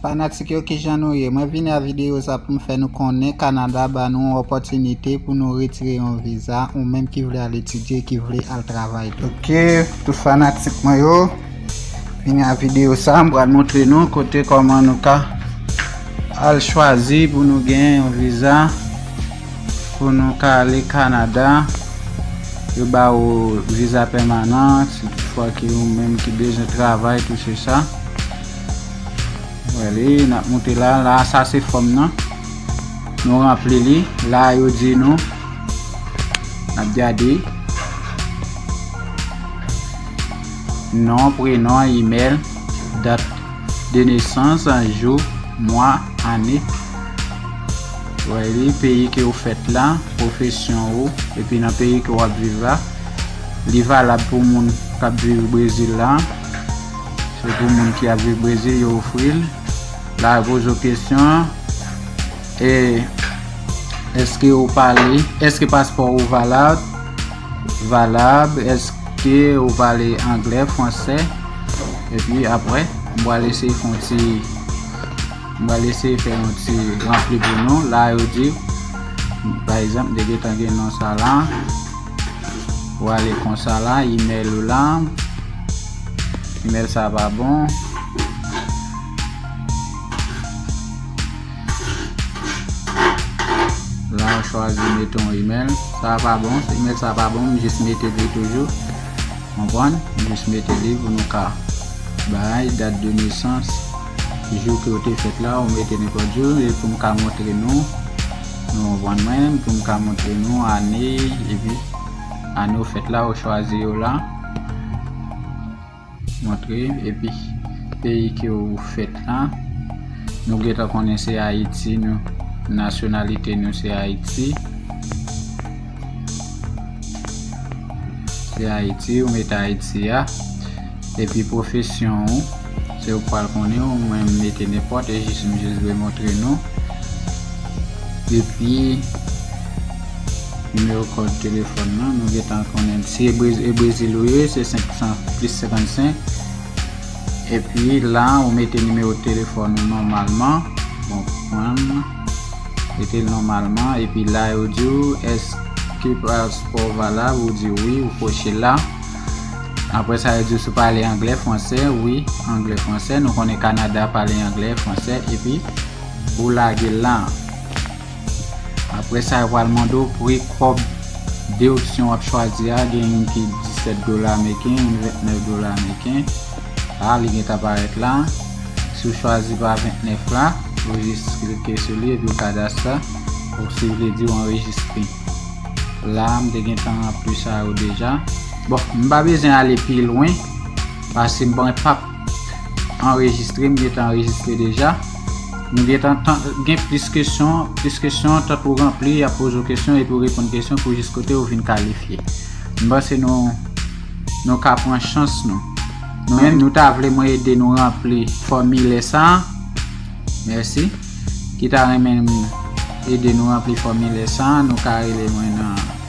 Fanatik yo kijan nou ye, mwen vini a videyo sa pou m fè nou konnen Kanada ba nou yon opòtinite pou nou retire yon viza ou menm ki vle al etidye, ki vle al travay. Ok, tout fanatik mwen yo. Vini a video sa, m pral montre nou kote koman nou ka al chwazi pou nou gen yon viza pou nou ka ale Kanada yo ba ou viza pèmanan si tout fwa ki ou menm ki bezwen travay tou se sa wèli n ap monte la la sa se fòm nan nou ranpli li la yo di nou n ap gade Non, prenon, imèl, dat de nesans, jou, mwa, ane, wè li, peyi ke ou fèt la, pwofesyon ou, epi nan peyi ke wap viv la, li valab pou moun kap viv Brezil la, se pou moun ki ap viv Brezil yo ofril, la yo poze ou kesyon, e, eske ou pale, eske paspò ou valab, Valab, Eske ou pale anglè, fransè? Epi apre, m pral eseye fè yon ti, m pral eseye fè yon ti ranpli pou nou. La yo di, pa egzanp, de gen tan gen non sa la. Ou ale konsa la, email ou la. Email sa pa bon. La ou chwazi mete yon email. Sa a pa bon. Email sa a pa bon. M jis mete li toujou. Konprann? M jis mete li pou nou ka bay dat de nesans. Jou ke ou te fèt la, ou mete nenpòt jou. E pou m ka montre nou. Nou konprann mwen. Pou m ka montre nou ane. Epi ane ou fèt la, ou chwazi yo la. Montre epi peyi ke ou fèt la. Nou gentan konnen se Ayiti nou. Nasyonalite nou se Ayiti. Se Ayiti, ou mete Ayiti a. Epi pwofesyon ou, se ou pral konnen ou mwen mete nenpòt e jis m jis vle montre nou. Epi Nimewo kòd telefòn lan nou gentan konnen l. Si e Brezil ou ye se 500 plis 55 epi la ou mete nimewo telefòn ou nòmalman bon prann mete l nòmalman epi la yo di ou èske paspò w valab ou di wi ou koche la apre sa yo di ou si w pale anglè, fransè wi anglè, fransè nou konnen Kanada pale anglè, fransè epi ou lage la. Aprè sa yo pral mande w pre kòb deduction wap chwazi a gen youn ki 17 dola meriken youn 29 dola meriken la li gentan parèt la si w chwazi pa 29 la ou jis klike sou li epi w kadastre ou si w vle di w anrejistre la m te gentan ranpli sa yo deja bon m pa bezwen ale pi lwen paske m pap Anrejistre, m gentan anrejistre deja. Nou gentan gen plis kesyon, plis kesyon tan pou ranpli, y ap poze ou kesyon epi ou reponn kesyon pou jis kote ou vin kalifye. M panse nou nou ka pran chans nou. Nou menm nou ta vle mwen ede nou ranpli fòmilè sa a? Mèsi. Ki ta renmen m ede nou ranpli fòmilè sa a, nou ka rele mwen nan.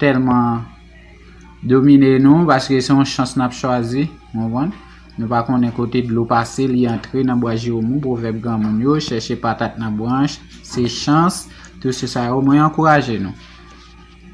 tèlman domine nou paske se yon chans n ap chwazi. Nou pa konnen kote dlo pase li antre nan bwa Jeremou, pwovèb granmoun yo, chèche patat nan branch, se chans, tou se sa yo. Mwen ankouraje nou.